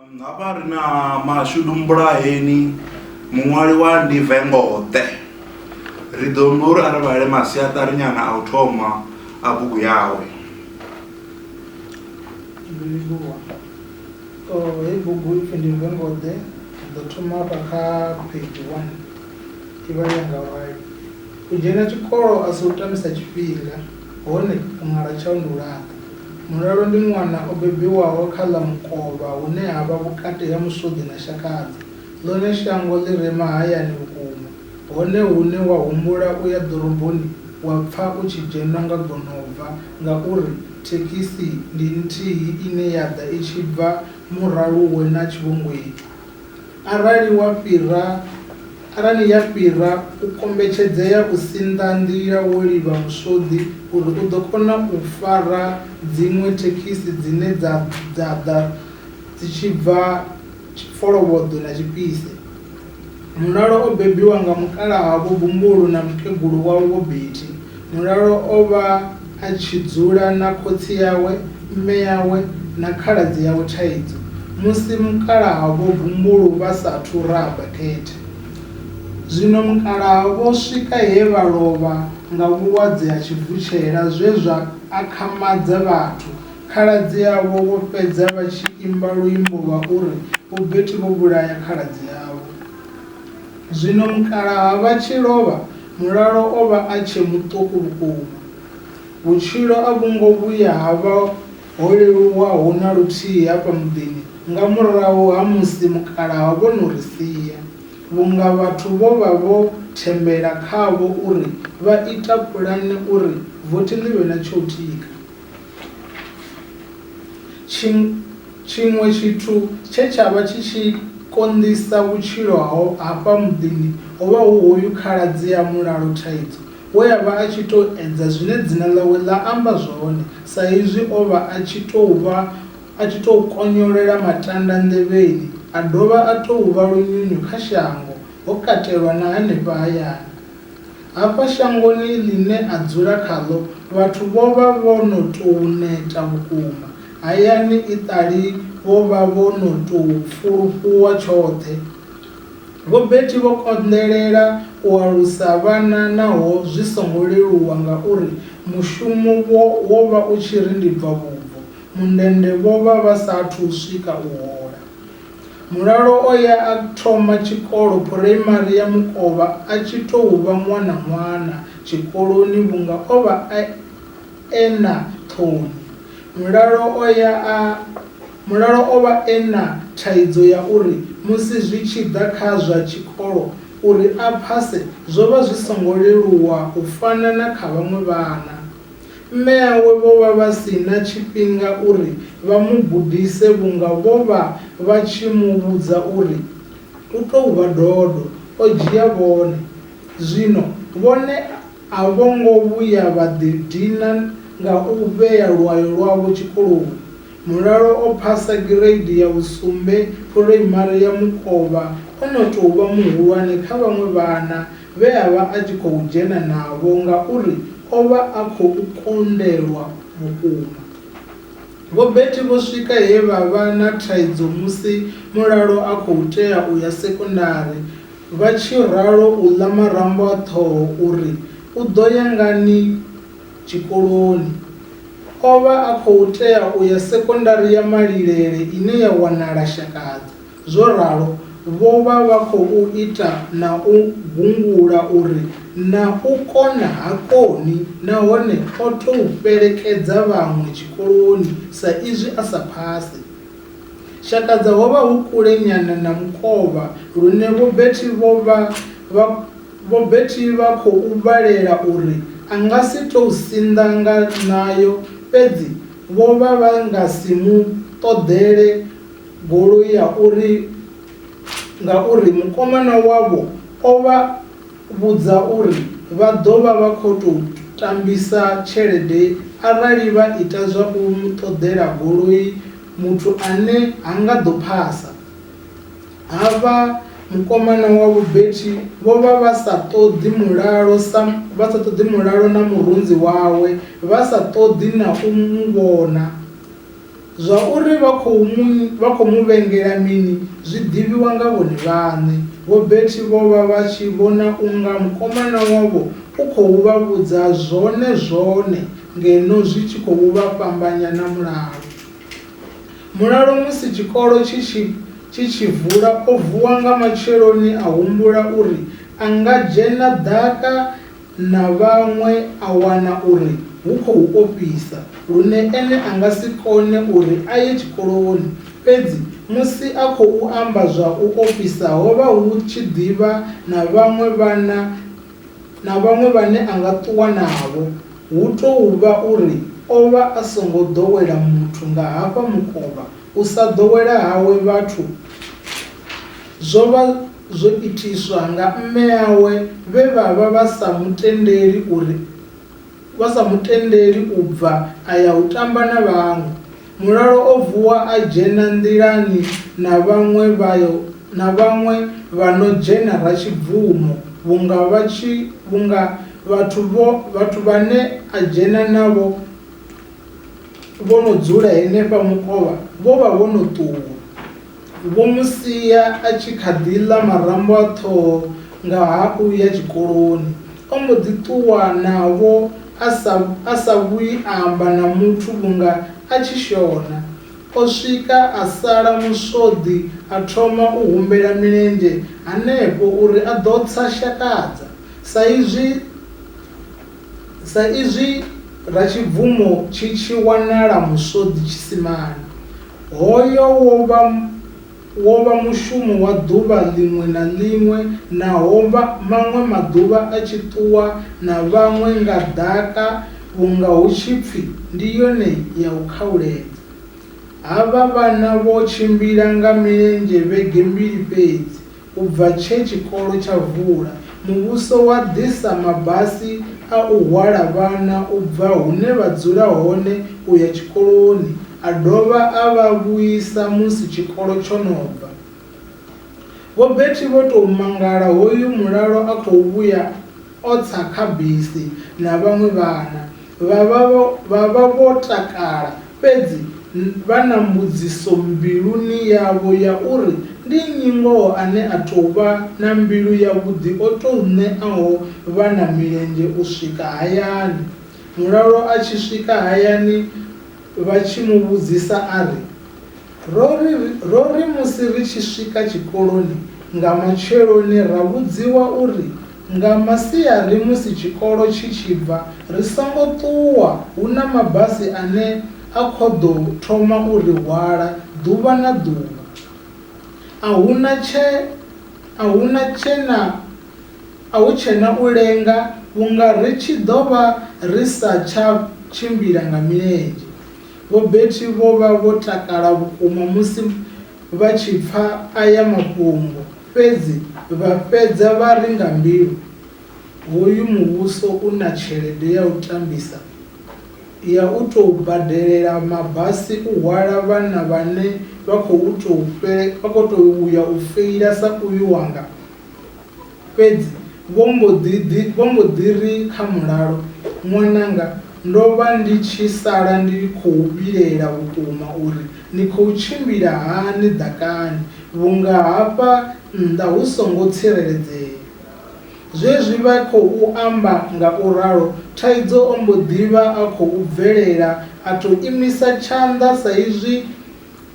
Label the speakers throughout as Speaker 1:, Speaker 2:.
Speaker 1: Um, ha vha ri na mashudu mbulaheni muṅwali wa ndi vengoṱe ri ḓo mba uri a ri vhale masiaṱari nyana a u thoma a bugu yawe
Speaker 2: hei bugu ipfi ndi vengoḓe ḓo thoma vha kha page one i vha yanga rali u dzhena tshikolo a si u tamisa tshifhinga Hone u ṅwala tsha u ndi u laṱa. Mulalo ndi ṅwana o bebiwaho kha ḽa mukovha hune ha vha vhukati ha musuḓi na shakadzi. Ḽone shango ḽi re mahayani vhukuma. Hone hune wa humbula u ya ḓoroboni wa pfa u tshi dzhenwa nga gonobva ngauri thekhisi ndi nthihi ine ya ḓa i tshi bva Muraluwe na Tshivhungweti. Arali wa fhira, arali ya fhira, u kombetshedzea u sinḓa nḓila wo livha muswoḓi uri u ḓo kona u fara dziṅwe thekhisi dzine dza dza ḓa dzi tshi bva Tshifolovhoḓwe na Tshipise. Mulalo o bebiwa nga mukalaha Vho Bumbulu na mukegulu wavho Vho Betty. Mulalo o vha a tshi dzula na khotsi yawe, mme yawe na khaladzi yawe Thaidzo musi mukalaha Vho Bumbulu vha sa athu raha bakete. Zwino mukalaha vho swika he vha lovha nga vhulwadze ha tshivutshela zwe zwa akhamadza vhathu. Khaladzi avho vho fhedza vha tshi imba luimbo lwa uri Vho Beti vho vhulaya khaladzi avho. Zwino mukalaha vha tshi lovha, Mulalo o vha a tshe muṱuku vhukuma. Vhutshilo a vhu ngo vhuya ha vha ho leluwaho na luthihi hafha muḓini nga murahu ha musi mukalaha vho no ri sia, vhunga vhathu vho vha vho thembela khavho uri vha ita pulane uri vothi ḽi vhe ḽa tsho u tika. Tshiṅwe tshithu tshe tsha vha tshi tshi konḓisa vhutshilo hafha muḓini ho vha hu hoyu khaladzi a mulalo thaidzo we a vha a tshi tou edza zwine dzina ḽawe ḽa amba zwone sa izwi o vha a tshi tou konyolela matanda nḓevheni a dovha a tou vha lunyunyu kha shango, ho katelwa na henefha hayani. Hafha shangoni ḽine a dzula khaḽo vhathu vho vha vho no tou neta vhukuma. Hayani iṱali vho vha vho no tou pfulufhuwa tshoṱhe. Vho Betty vho konḓelela u alusa vhana naho zwi songo leluwa ngauri mushumo wo wo vha u tshi ri ndi bva vhubvo, mundende vho vha vha sa athu u swika u hola. Mulalo o ya a thoma tshikolo phuraimari ya Mukovha a tshi tou vha ṅwana-ṅwana tshikoloni vhunga o vha e e na ṱhoni. Mulalo o ya a Mulalo o vha e na thaidzo ya uri musi zwi tshi ḓa kha zwa tshikolo, uri a phase zwo vha zwi songo leluwa u fana na kha vhaṅwe vhana. Mme awe vho vha vha si na tshifhinga uri vha mu gudise vhunga vho vha vha tshi mu vhudza uri u tou vha dodo, o dzhia vhone. Zwino vhone a vho ngo vhuya vha ḓidina nga u vhea lwayo lwavho tshikoloni. Mulalo o phasa gireidi ya vhusumbe Phuraimari ya Mukovha o no tou vha muhulwane kha vhaṅwe vhana vhe a vha a tshi khou dzhena navho ngauri o vha a khou konḓelwa vhukuma. Vho Betty vho swika he vha vha na thaidzo musi Mulalo a khou tea u ya sekondari, vha tshi ralo u ḽa marambo a ṱhoho uri u ḓo ya ngani tshikoloni. O vha a khou tea u ya sekondari ya Malilele ine ya wanala Shakadza. Zwo ralo, vho vha vha khou ita na u gungula uri na u kona ha koni nahone o tou fhelekedza vhaṅwe tshikoloni sa izwi a sa phase. Shakadza ho vha hu kule nyana na mukovha lune Vho Betty vho vha vha Vho Betty vha khou vhalela uri a nga si tou sinḓa nga ṋayo fhedzi vho vha vha nga si mu ṱoḓele Goloi ya uri ngauri mukomana wavho o vha vhudza uri vha ḓo vha vha khou tou tambisa tshelede arali vha ita zwa u mu ṱoḓela goloi muthu ane ha nga ḓo phasa. Havha mukomana wavho Betty vho vha vha sa ṱoḓi mulalo sa vha sa ṱoḓi mulalo na murunzi wawe vha sa ṱoḓi na u mu vhona. Zwa uri vha khou mu vha khou mu vhengela mini zwi ḓivhiwa nga vhone vhaṋe. Vho Betty vho vha vha tshi vhona u nga mukomana wavho u khou vha vhudza zwone zwone ngeno zwi tshi khou vha fhambanya na mulalo. Mulalo musi tshikolo tshi tshi tshi tshi vula o vuwa nga matsheloni a humbula uri a nga dzhena ḓaka na vhaṅwe a wana uri hu khou ofhisa lune ene a nga si kone uri a ye tshikoloni, fhedzi musi a khou amba zwa u ofhisa ho vha hu tshi ḓi vha na vhaṅwe vhana na vhaṅwe vhane a nga ṱuwa navho. Hu tou vha uri o vha a songo ḓowela muthu nga hafha mukovha, u sa ḓowela hawe vhathu zwo vha. Zwo itiswa nga mme awe vhe vha vha vha sa mu tendeli uri vha sa mu tendeli u bva a ya u tamba na vhaṅwe. Mulalo o vuwa a dzhena nḓilani na vhaṅwe vha yo na vhaṅwe vha no dzhena Ratshibvumo vhunga vha tshi vhunga vhathu vho vhathu vhane a dzhena navho vho no dzula henefha mukovha vho vha vho no ṱuwa. Vho mu sia a tshi kha ḓi ḽa marambo a ṱhoho nga ha u ya tshikoloni. O mbo ḓi ṱuwa navho a sa a sa vhuyi a amba na muthu vhunga a tshi shona. O swika a sala muswoḓi a thoma u humbela milenzhe hanefho uri a ḓo tsa Shakadza sa izwi. Sa izwi Ratshibvumo tshi tshi wanala Muswoḓi Tshisimani, hoyo wo vha wo vha mushumo wa ḓuvha ḽiṅwe na ḽiṅwe na hovha maṅwe maḓuvha a tshi ṱuwa na vhaṅwe nga ḓaka vhunga hu tshi pfi ndi yone ya u khauledza. Havha vhana vho tshimbila nga milenzhe vhege mbili fhedzi U bva tshe tshikolo tsha vula, muvhuso wa ḓisa mabasi a u hwala vhana u bva hune vha dzula hone u ya tshikoloni a dovha a vha vhuisa musi tshikolo tsho no bva. Vho Betty vho tou mangala hoyu mulalo a khou vhuya. O tsa kha bisi na vhaṅwe vhana, vha vha vho, vha vha vho takala, fhedzi vha na mbudziso mbiluni yavho ya uri, Ndi nnyi ngoho ane a tou vha na mbilu yavhuḓi o tou ṋeaho vhana milenzhe u swika hayani? Mulalo a tshi swika hayani, vha tshi mu vhudzisa a ri, Ro ri, ro ri musi ri tshi swika tshikoloni nga matsheloni ra vhudziwa uri nga masiari musi tshikolo tshi tshi bva ri songo ṱuwa hu na mabasi ane a khou ḓo thoma u ri hwala ḓuvha na ḓuvha. A hu na tshe, a hu na tshe na, a hu tshe na u lenga vhunga ri tshi ḓo vha ri sa tsha tshimbila nga milenzhe. Vhobethi vho vha vho takala vhukuma musi vha tshi pfa aya mafhungo. Fhedzi vha fhedza vha ri nga mbilu, Hoyu muvhuso u na tshelede ya u tambisa ya u tou badelela mabasi u hwala vhana vhane vha khou tou ya u feila sa uyu wanga? Fhedzi vho mbo ḓi ḓi, vho mbo ḓi ri kha mulalo, Ṅwananga, ndo vha ndi tshi sala ndi khou vhilaela vhukuma uri ni khou tshimbila hani ḓakani, vhunga hafha nnḓa hu songo tsireledzea. Zwezwi vha khou amba nga u ralo, Thaidzo o mbo ḓi vha a khou bvelela a tou imisa tshanḓa saizwi,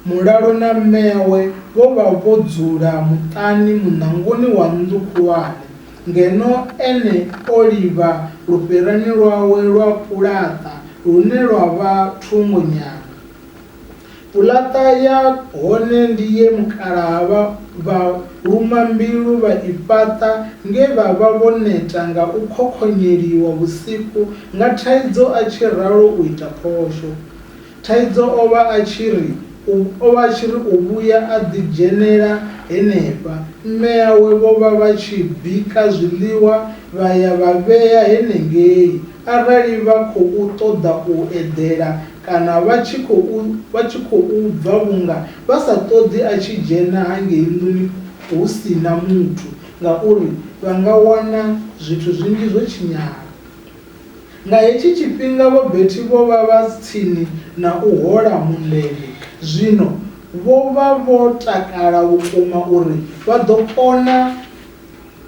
Speaker 2: Mulalo na mmeawe vho vha vho dzula muṱani muṋangoni wa nnḓu khulwane, ngeno ene o livha lufherani lwawe lwa pulaṱa lune lwa vha thungo nyana. Pulaṱa ya hone ndi ye mukalaha vha vha luma mbilu vha i fhaṱa nge vha vha vho neta nga u khokhonyeliwa vhusiku nga thaidzo a tshi ralo u ita phosho. Thaidzo o vha a tshi ri u, o vha a tshi ri u vhuya a ḓidzhenela henefha. Mme awe vho vha vha tshi bika zwiḽiwa vha ya vha vhea henengei arali vha khou ṱoḓa u eḓela kana vha tshi khou, vha tshi khou bva vhunga vha sa ṱoḓi a tshi dzhena hangei nḓuni hu si na muthu ngauri vha nga wana zwithu zwinzhi zwo tshinyala. Nga hetshi tshifhinga Vho Betty vho vha vha tsini na u hola mundende. Zwino vho vha vho takala vhukuma uri vha ḓo kona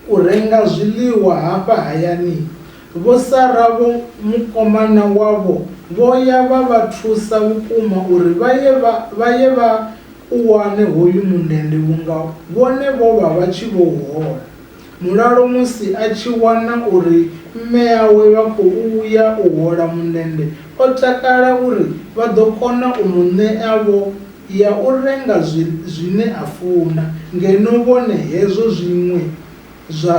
Speaker 2: u renga zwiḽiwa hafha hayani. Vho Sarah vho mukomana wavho vho ya vha vha thusa vhukuma uri vha ye vha vha ye vha u wane hoyu mundende vhunga vhone vho vha vha tshi vhou hola. Mulalo musi a tshi wana uri mme awe vha khou ya u hola mundende, o takala uri vha ḓo kona u mu ṋea vho ya u renga zwine a funa ngeno vhone hezwo zwiṅwe zwa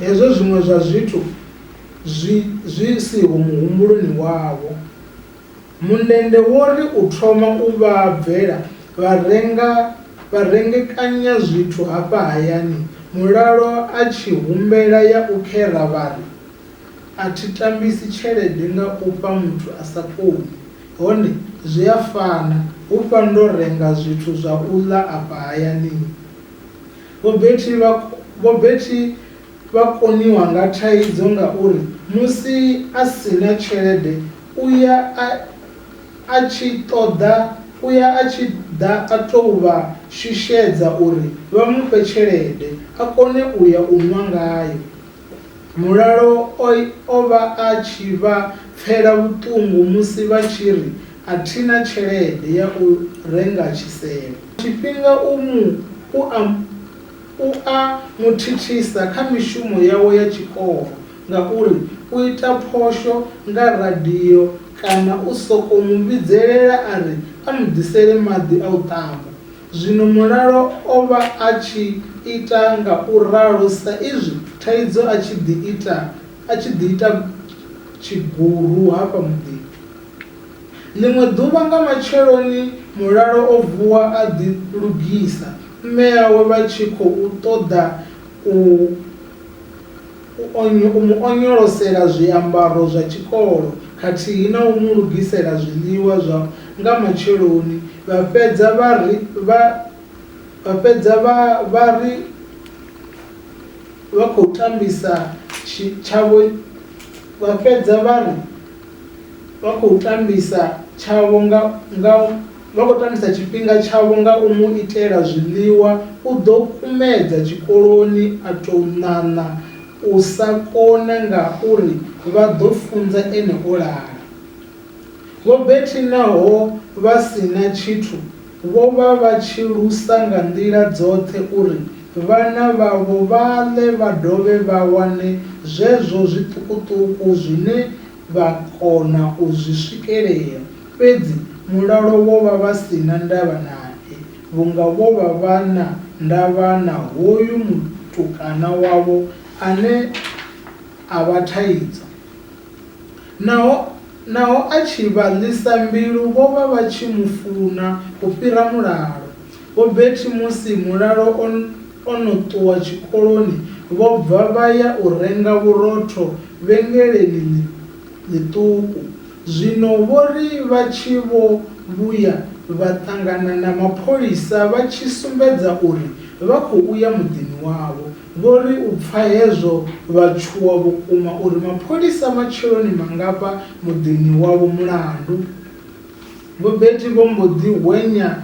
Speaker 2: hezwo zwiṅwe zwa zwithu zwi zwi siho muhumbuloni wavho. Mundende wo ri u thoma u vha bvela vha renga vha rengekanya zwithu hafha hayani mulalo a tshi humbela ya u khera vha ri, A thi tambisi tshelede nga u fha muthu a sa koni, hone zwi a fana hu fha ndo renga zwithu zwa u ḽa afha hayani. Vho Betty vha Vho Betty. Vha koniwa nga thaidzo ngauri musi a si na tshelede u ya a a tshi ṱoḓa u ya a tshi ḓa a tou vha shushedza uri vha mu fhe tshelede a kone u ya u nwa ngayo. Mulalo o o vha a tshi vha pfela vhuṱungu musi vha tshi ri a thi na tshelede ya u renga tshisevho. Tshifhinga u mu u a. U a mu thithisa kha mishumo yawe ya tshikolo ngauri u ita phosho nga radio kana u sokou mu vhidzelela a ri a mu ḓisele maḓi a u ṱamba. Zwino Mulalo o vha a tshi ita nga u ralo sa izwi thaidzo a tshi ḓi ita a tshi ḓi ita tshiguru hafha muḓini. Ḽiṅwe ḓuvha nga matsheloni Mulalo o vuwa a ḓi lugisa mme awe vha tshi khou ṱoḓa u u mu onyolosela zwiambaro zwa tshikolo khathihi na u mu lugisela zwiḽiwa zwa nga matsheloni, vha fhedza vha ri vha vha fhedza vha vha ri vha khou tambisa tshi tshavho vha fhedza vha ri vha khou tambisa tshavho nga nga. Vha khou tambisa tshifhinga tshavho nga u mu itela zwiḽiwa, u ḓo kumedza tshikoloni a tou ṋaṋa u sa kona ngauri vha ḓo funza ene o lala. Vho Betty naho vha si na tshithu, vho vha vha tshi lusa nga nḓila dzoṱhe uri vhana vhavho vha ḽe vha dovhe vha wane zwezwo zwiṱukuṱuku zwine vha kona u zwi swikelela, fhedzi mulalo wo vha vha si na ndavha nae, vhunga vho vha vha na ndavha na hoyu mutukana wavho ane a vha thaidzo. Naho naho a tshi vha ḽisa mbilu, vho vha vha tshi mu funa u fhira mulalo. Vho Betty musi mulalo o. O no ṱuwa tshikoloni vho bva vha ya u renga vhurotho vhengeleni ḽi ḽiṱuku. Zwino vho ri vha tshi vho vhuya vha ṱangana na mapholisa vha tshi sumbedza uri vha khou ya muḓini wavho. Vho ri u pfa hezwo vha tshuwa vhukuma uri mapholisa matsheloni mangafha muḓini wavho mulandu. Vho Betty vho mbo ḓi hwenya.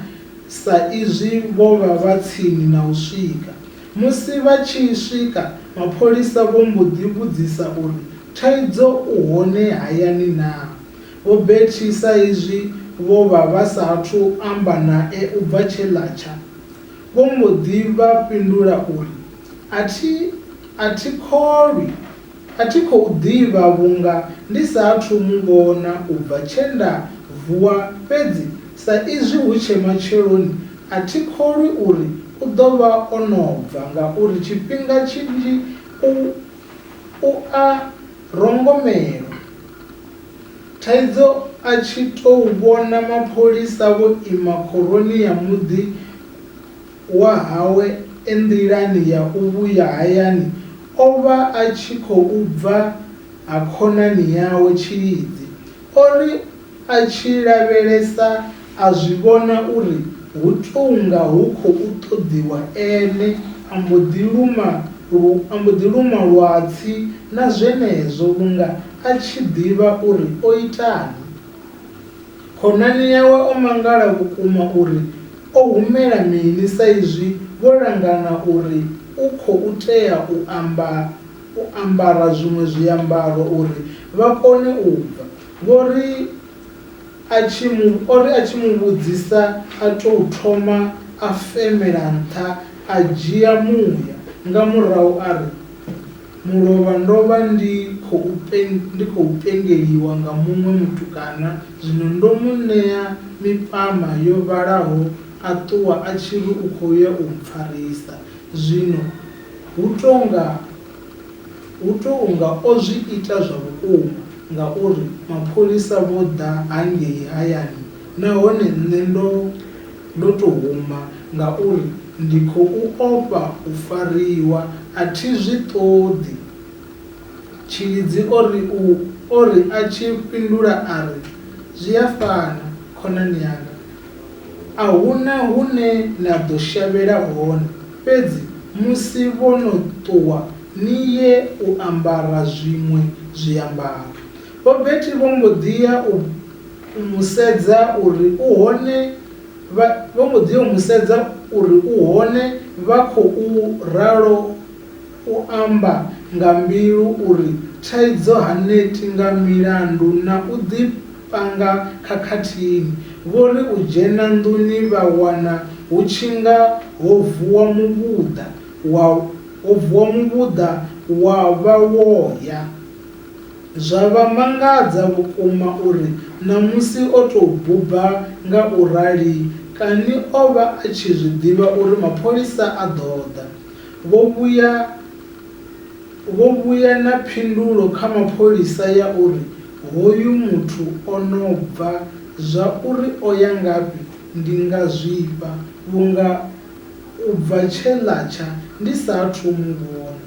Speaker 2: sa izwi vho vha vha tsini na u swika. Musi vha tshi swika, mapholisa vho mbo ḓi vhudzisa uri Thaidzo u hone hayani naa? Vho Betty sa izwi vho vha vha sa athu amba nae u bva tshe ḽa tsha, vho mbo ḓi vha fhindula uri, A thi, a thi kholwi A thi khou ḓivha vhunga ndi sa athu mu vhona u bva tshe nda vuwa fhedzi sa izwi hu tshe matsheloni a thi kholwi uri u ḓo vha o no bva ngauri tshifhinga tshinzhi u u a rongomelwa. Thaidzo a tshi tou vhona mapholisa vho ima khoroni ya muḓi. wa hawe e nḓilani ya u vhuya hayani o vha a tshi khou bva ha khonani yawe Tshilidzi. O ri a tshi lavhelesa a zwi vhona uri hu tou nga hu khou ṱoḓiwa ene, a mbo ḓi luma a mbo ḓi luma lwatsi na zwenezwo vhunga a tshi ḓivha uri o itani. Khonani yawe o mangala vhukuma uri o humela mini saizwi vho langana uri u khou tea u amba u ambara zwiṅwe zwiambaro uri vha kone u bva. Vho ri a tshi mu o ri a tshi mu vhudzisa a tou thoma a femela nṱha a dzhia muya nga murahu a ri, Mulovha, Ndo vha ndi khou ndi khou pengeliwa nga muṅwe mutukana, zwino ndo mu ṋea mipama yo vhalaho a ṱuwa a tshi ri u khou ya u mpfarisa. Zwino hu tou nga hu tou nga o zwi ita zwa vhukuma ngauri mapholisa vho ḓa hangei hayani nahone nṋe ndo ndo tou huma ngauri ndi khou ofha u fariwa, a thi zwi ṱoḓi. Tshilidzi o ri u o ri a tshi fhindula a ri, Zwi a fana, khonani yanga. A hu na hune na ḓo shavhela hone, fhedzi musi vho no ṱuwa ni ye u ambara zwiṅwe zwiambaro. Vho Betty vho mbo ḓi ya u. U mu sedza uri u hone, vha, vho mbo ḓi yo mu sedza uri u hone, vha khou ralo u amba nga mbilu uri thaidzo ha neti nga milandu na u ḓi panga khakhathini. Vho ri u dzhena nḓuni vha wana hu tshi nga ho vuwa muvhuḓa wa, ho vuwa muvhuḓa wa vha wo ya. Zwa vha mangadza vhukuma uri ṋamusi o tou buba nga u rali kani o vha a tshi zwi ḓivha uri mapholisa a ḓo ḓa. Vho vhuya vho vhuya na phindulo kha mapholisa ya uri hoyu muthu o no bva, zwa uri o ya ngafhi ndi nga zwifha vhunga u bva tshe ḽa tsha ndi sa athu u mu vhona.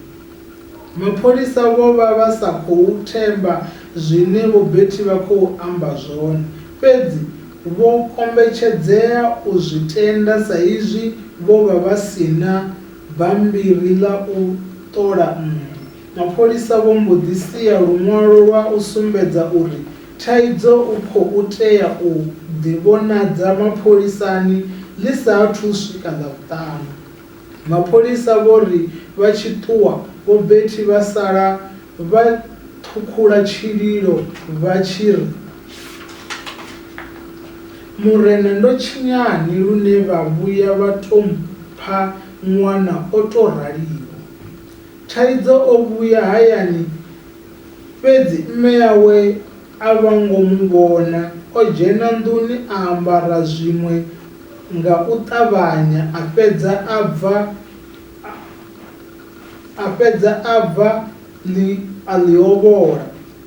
Speaker 2: Mapholisa vho vha vha sa khou themba zwine Vho Betty vha khou amba zwone, fhedzi vho kombetshedzea u zwi tenda sa izwi vho vha vha si na bammbiri ḽa u ṱola nnḓu. Mapholisa vho mbo ḓi sia luṅwalo lwa u sumbedza uri Thaidzo u khou tea u ḓivhonadza mapholisani ḽi sa athu u swika Ḽavhuṱanu. Mapholisa vho ri vha tshi ṱuwa, Vho Betty vha sala vha ṱhukhula tshililo vha tshi ri, Murena ndo tshinyani lune vha vhuya vha tou mpha ṅwana o tou raliho. Thaidzo o vhuya hayani fhedzi mme awe a vha ngo mu vhona, o dzhena nḓuni a ambara zwiṅwe, nga u ṱavhanya a fhedza a bva a fhedza a bva ḽi a ḽi ovhola.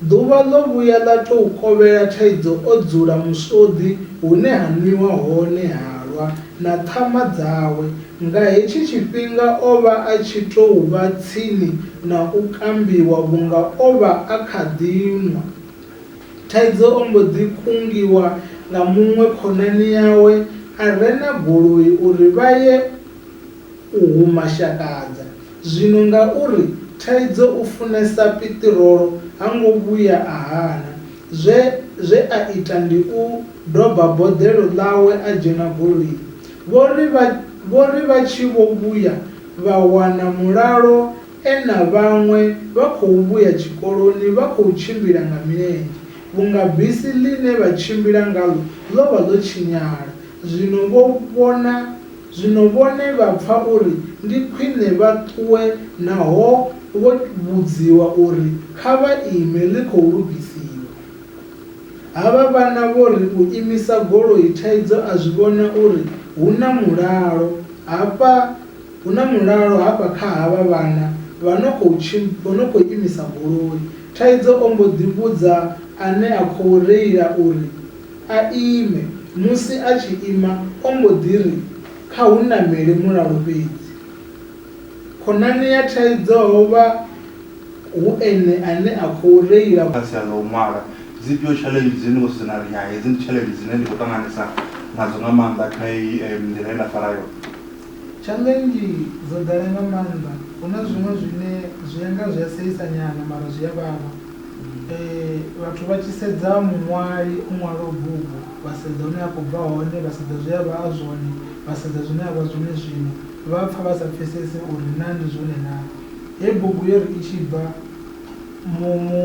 Speaker 2: Ḓuvha ḽo vhuya ḽa tou kovhela thaidzo o dzula muswoḓi hune ha nwiwa hone halwa na ṱhama dzawe. Nga hetshi tshifhinga o vha a tshi tou vha tsini na u kambiwa vhunga o vha a kha ḓi nwa. Thaidzo o mbo ḓi kungiwa nga muṅwe khonani yawe a re na goloi uri vha ye u hu mashakadza. Zwino ngauri Thaidzo u funesa piṱirolo ha ngo vhuya a hana, zwe zwe a ita ndi u doba boḓelo ḽawe a dzhena goloini. Vho ri vha vho ri vha tshi vho vhuya vha wana mulalo E na vhaṅwe vha khou vhuya tshikoloni vha khou tshimbila nga milenzhe vhunga bisi ḽine vha tshimbila ngaḽo ḽo vha ḽo tshinyala. Zwino vho vhona, zwino vhone vha pfa uri ndi khwine vha ṱuwe naho vho vhudziwa uri kha vha ime ḽi khou lugisiwa. Havha vhana vho ri u imisa goloi thaidzo a zwi vhona uri hu na mulalo hafha. Hu na mulalo hafha kha havha vhana vha no khou tshim vho no khou imisa goloi, Thaidzo o mbo ḓi vhudza ane a khou reila uri a ime. Musi a tshi ima, o mbo ḓi ri, Kha hu namele mulalo fhedzi. Khonani ya Thaidzo ho vha hu ene ane a khou reila. Kha sia ḽa u ṅwala,
Speaker 1: dzifhio tshaḽenzhi dzine ni khou sedzana na ri, Hai, hedzi ndi tshaḽenzhi dzine ndi khou ṱanganesa nadzo nga maanḓa kha heyi nḓila ye nda fara yone? Tshaḽenzhi
Speaker 2: dzo ḓala nga maanḓa. Hu na zwiṅwe zwine zwi ya nga zwi a seisa nyana mara zwi a vhavha. Vhathu vha tshi sedza muṅwali o ṅwalaho bugu vha sedza hune a khou bva hone, vha sedza zwe a vha a zwone, vha sedza zwine a vha zwone zwino vha pfa vha sa pfhesese uri naa ndi zwone naa. He bugu yo ri i tshi bva mu mu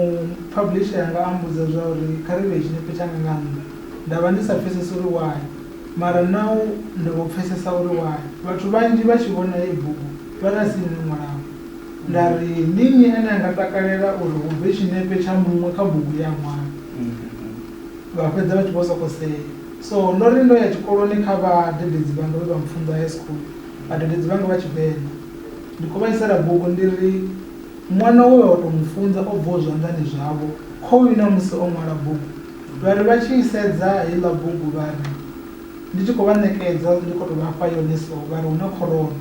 Speaker 2: publisher anga a mmbudza zwa uri kha ri vhee tshinepe tshanga nga nnḓa nda vha ndi sa pfhesesi uri why. Mara nau ni vho pfesesa uri why vhathu vhanzhi vha tshi vhona heyi bugu vha ri a si nṋe mulangwa. Nda ri, Ndi nnyi ane a nga takalela uri hu bve tshinepe tsha muṅwe kha bugu ye a ṅwala? Vha fhedza vha tshi vho sokou sea. So ndo ri ndo ya tshikoloni kha vhadededzi vhanga vhe vha mpfunza high school, vhadededzi vhanga vha Tshivenḓa. Ndi khou vha isela bugu ndi ri, Ṅwana we vha vha tou mu funza o bvaho zwanḓani zwavho, khoyu ṋamusi o ṅwala bugu. Vha ri vha tshi i sedza heiḽa bugu vha ri, ndi tshi khou vha ṋekedza, ndi khou tou vha fha yone so, vha ri hu na khorona.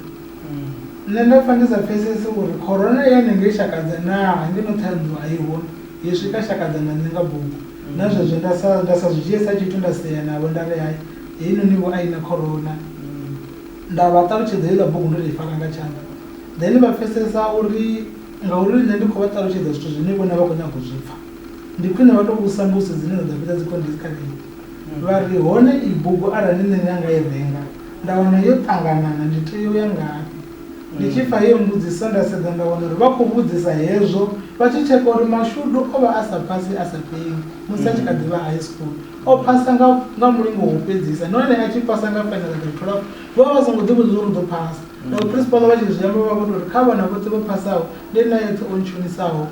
Speaker 2: Nṋe nda pfa ndi sa pfesesi uri khorona i ya nengei Shakadza naa, hangeno Ṱhohoyanḓou a i ho, yo swika Shakadza nda ṋenga bugu. Na zwezwo nda sa, nda sa zwi dzhie sa tshithu nda sea navho nda ri, Hai, heinoni-vho a i na khorona. Nda vha ṱalutshedza heiḽa bugu ndo tou i fara nga tshanḓa. Then vha pfesesa uri ngauri nṋe ndi khou vha ṱalutshedza zwithu zwine vhone vha khou nyaga u zwi pfa. Ndi khwine vha tou vhusa mbudziso dzine dza ḓo fhedza dzi khou ndiskalea vha ri, Hone iyi bugu arali nṋe ndi nga i renga nda wana yo ṱanganana ndi tea u ya ngafhi? Ndi tshi pfa heyo mbudziso nda sedza nda wana uri vha khou vhudzisa hezwo vha tshi tsheka uri mashudu o vha a sa phasi a sa pengi musi a tshi kha ḓi vha high school. O phasa nga nga mulingo wa u fhedzisa nahone a tshi phasa nga fenela dza 12. Vho vha vha songo ḓivhudza zwa uri u ḓo phasa. Naho phrinsipala vha tshi zwi amba vha vho tou ri kha vhana vhoṱhe vho phasaho ndi nṋe a eṱhe o ntshonisaho.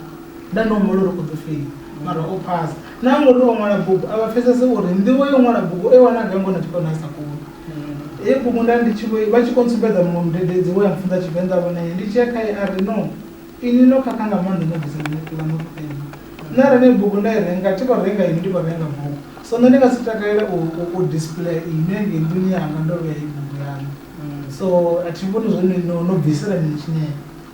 Speaker 2: Nda ndi humbula uri u ḓo fhenya, mara o phasa. Na ngori o ṅwala bugu a vha pfesese uri nḓivho ya u ṅwala bugu o i wana gai ngori na tshikolo nda ndi sa koni. Heyo bugu nda ndi tshi vho i, vha tshi khou ntsumbedza muṅwe mudededzi we a mpfunza Tshivenḓa vho na ye, ndi tshi ya khae a ri, No, inwi no khakha nga maanḓa no bvisa ḽinepi ḽaṋu ḽo penya. Nṋe arali heneyo bugu nda i renga, thi vho renga inwi, ndi vho renga bugu. So nṋe ndi nga si takalele u, u, u displayer inwi hangei nḓuni yanga ndo vhea heyi bugu yaṋu. So a thi vhoni zwo ri no, no bvisela mini tshinepe.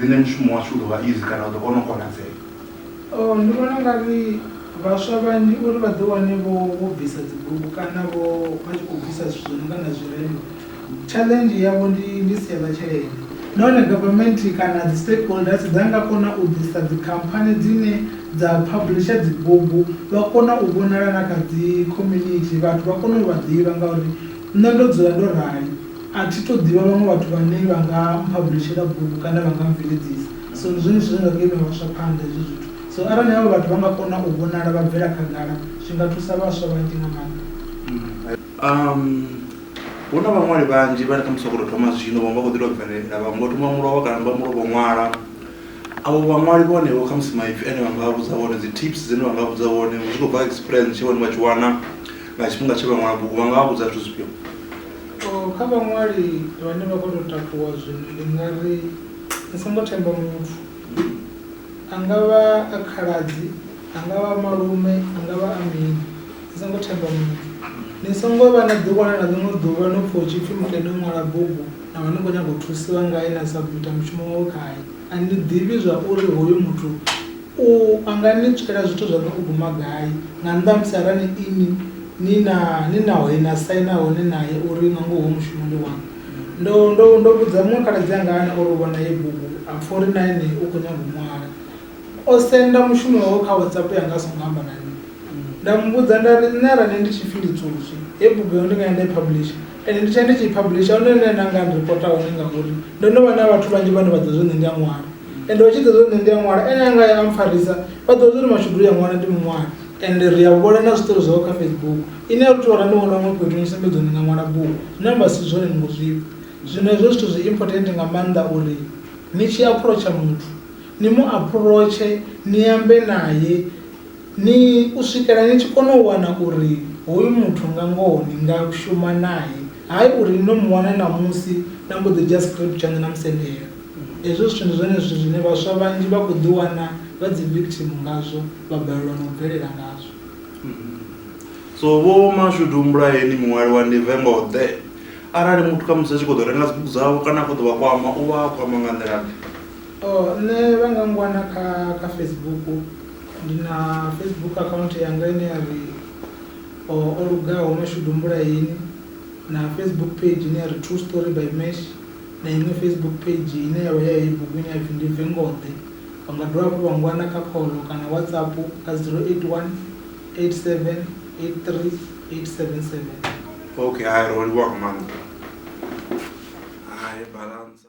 Speaker 1: riṋe mushumo washu u ḓo vha easy kana u ḓo kona u konadzea. Oh, ndi
Speaker 2: vhona nga ri vhaswa vhanzhi uri vha ḓi wane vho vho bvisa dzi bugu kana vho vha tshi khou bvisa zwithu zwi no nga na zwirendo challenge yavho ndi ndi sia ḽa tshelede. Nahone government kana dzi stakeholders dza nga kona u ḓisa dzi khamphani dzine dza publisher dzi bugu vha kona u vhonala na kha dzi community vhathu vha kone u vha ḓivha ngauri nṋe ndo dzula ndo rali. A thi tou ḓivha vhaṅwe vhathu vhane vha nga mphabulishela bugu kana vha nga mmbveledzisa. So ndi zwone zwithu zwe nda ḓo imela vhaswa phanḓa hezwo zwithu. So arali havha vhathu vha nga kona u vhonala vha bvela khagala zwi nga thusa vhaswa vhanzhi nga maanḓa. Umm
Speaker 1: hu na vhaṅwali vhanzhi vhane khamusi vha khou tou thoma zwino vhaṅwe vha khou ḓi tou bvelela vhaṅwe vho thoma mulovha kana vha mulovha u ṅwala. Avho vhaṅwali vhone vho khamusi maipfi ane vha nga vha vhudza one dzi tips dzine vha nga vha vhudza one zwi khou bva kha experience tsheo ine vha tshi wana nga tshifhinga tshe vha ṅwala bugu vha nga vha vhudza zwithu zwifhio. Kha
Speaker 2: vhaṅwali vhane vha khou tou takuwa zwino ndi nga ri ni songo themba muthu. A nga vha a khaladzi, a nga vha a malume, a nga vha a mini, ni songo themba muthu. Ni songo vha na ḓiwana na ḽiṅwe ḓuvha no pfha hu tshi pfhi muthu ene o ṅwala bugu na vha ni khou nyaga u thusiwa ngae na sabumitha mushumo wawe khae, a ni ḓivhi zwa uri hoyu muthu U a nga ni tswela zwithu zwa no u guma gai, nga nnḓa ha musi arali inwi ni na, ni naho he na saina hone nae uri nga ngoho mushumoni waṋu? Ndo, ndo, ndo vhudza muṅwe khaladzi anga ane o ri u vhona heyi bugu, a pfa uri na ene u khou nyaga u ṅwala. O senda mushumo wawe kha WhatsApp yanga a songo amba na nṋe. Nda mu vhudza nda ri, Nṋe arali ndi tshi pfi ndi Tswotswi, heyi bugu yaṋu ndi nga ya nda i publisher? Ende ndi tshe ndi tshi publisher hone nṋe na nga ndi reporter hone ngauri ndo no vha na vhathu vhanzhi vhane vha ḓo zwo nṋe ndi a ṅwala ende vha tshi ḓo zwo nṋe ndi a ṅwala ene anga ya ampfarisa vha ḓo zwo mashudu ya ṅwala ndi muṅwali ende ri a vhona na zwiṱori zwawe kha Facebook ine a thu vha ndi vhona huṅwe fhethu ni sumbedza uri ni nga ṅwala bugu zwine amba si zwone ni ngo zwifha zwino hezwo zwithu zwi important nga maanḓa uri ni tshi aphurotsha muthu ni mu aphurotshe ni ambe naye Ni u swikela ni tshi kona u wana uri hoyu muthu nga ngoho ni nga shuma nae, hai uri ni no mu wana ṋamusi na mbo ḓi dzhia script tshaṋu na mu sendela. Hezwo zwithu ndi zwone zwithu zwine vhaswa vhanzhi vha khou ḓi wana vha dzi victim ngazwo vha balelwa na u bvelela ngazwo. So
Speaker 1: vho Mashudu humbulai ni muṅwali wa ndi vengo ḓe, arali muthu khamusi a tshi kho ḓo renga dzibugu dzavho kana a kho ḓo vha kwama u vha a kwama nga nḓila ḓe? Nṋe vha nga ngwana
Speaker 2: kha kha Facebook. Ndi na Facebook account yanga ine ya ri O Lugaho Mashudu Mbulaeni na Facebook page ine ya ri True Story by Mash na iṅwe Facebook page ine ya vha ya heyi bugu ine ya pfi Ndi Bve Ngoḓe. Vha nga dovha hafhu vha ngwana kha khoḽo kana WhatsApp kha 0818783877. Ok, hai, ro livhuwa nga
Speaker 1: maanḓa. Hai, Balansa.